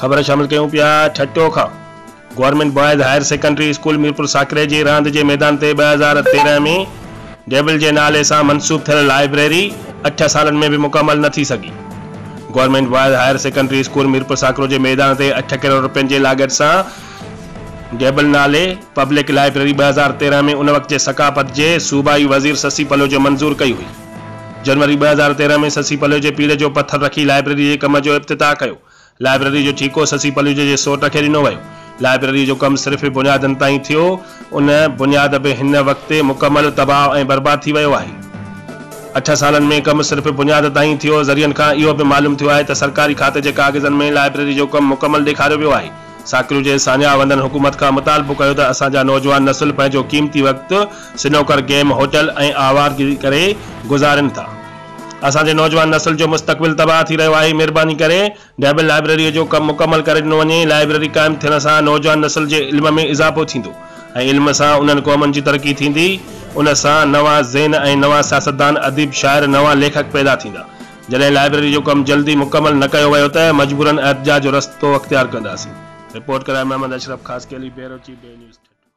خبر شامل ڪيون پيا ٺٽو کان government boys higher secondary school Mirpur Sakro جي راند جي ميدان تي ٻه هزار تيرهن ۾ ڊيبل جي نالي سان منسوب ٿيل لائبريري اٺ سالن ۾ به مڪمل نه ٿي سگهي government boys higher secondary school Mirpur Sakro جي ميدان تي اٺ ڪروڙ رپين جي لاڳت سان ڊيبل نالي پبلڪ لائبريري ٻه هزار تيرهن ۾ ان وقت جي ثقافت جي صوبائي وزير سسي پلوجي منظور ڪئي هئي. جنوري ٻه هزار تيرهن ۾ سسي پليوجي پيڙهه جو پٿر رکي لائبريري جي ڪم جو افتتاح ڪيو. لائبريري جو ٺيڪو سسي پليوجي جي سوٽ کي ڏنو ويو. لائبريري جو ڪم صرف بنيادن تائين ٿيو. ان بنياد به هن وقت مڪمل تباهه ۽ برباد ٿي ويو آهي. اٺ سالن ۾ ڪم صرف بنياد تائين ٿيو. ذريعن کان اهو به معلوم ٿيو آهي ته سرڪاري کاتي جي ڪاغذن ۾ لائبريري جو ڪم مڪمل ڏيکاريو ويو آهي. ساڪريو جي ساڃاهه وندڙن حڪومت کان مطالبو ڪيو ته اسان جا نوجوان نسل پنهنجو قيمتي وقت سنوڪر گيم هوٽل ۽ آوارگري ڪري گذارين ٿا اسان جي نوجوان نسل جو مستقبل تباهه ٿي رهيو آهي مھرباني ڪري ڊيبل لائبريري جو ڪم مڪمل ڪري ڏنو وڃي لائبريري قائم ٿيڻ سان نوجوان نسل جي علم ۾ اضافو ٿيندو ۽ علم سان انهن قومن جي ترقي ٿيندي ان سان نوان ذهن ۽ نوان سياستدان اديب شاعر نوان ليکڪ پيدا ٿيندا جڏهن لائبريري جو ڪم جلدي مڪمل نه ڪيو ويو ته مجبورن احتجاج جو رستو اختيار ڪنداسين رپورٽ ڪرائي محمد اشرف خاصخيلي بيروچي بي نيوز ٺٽو.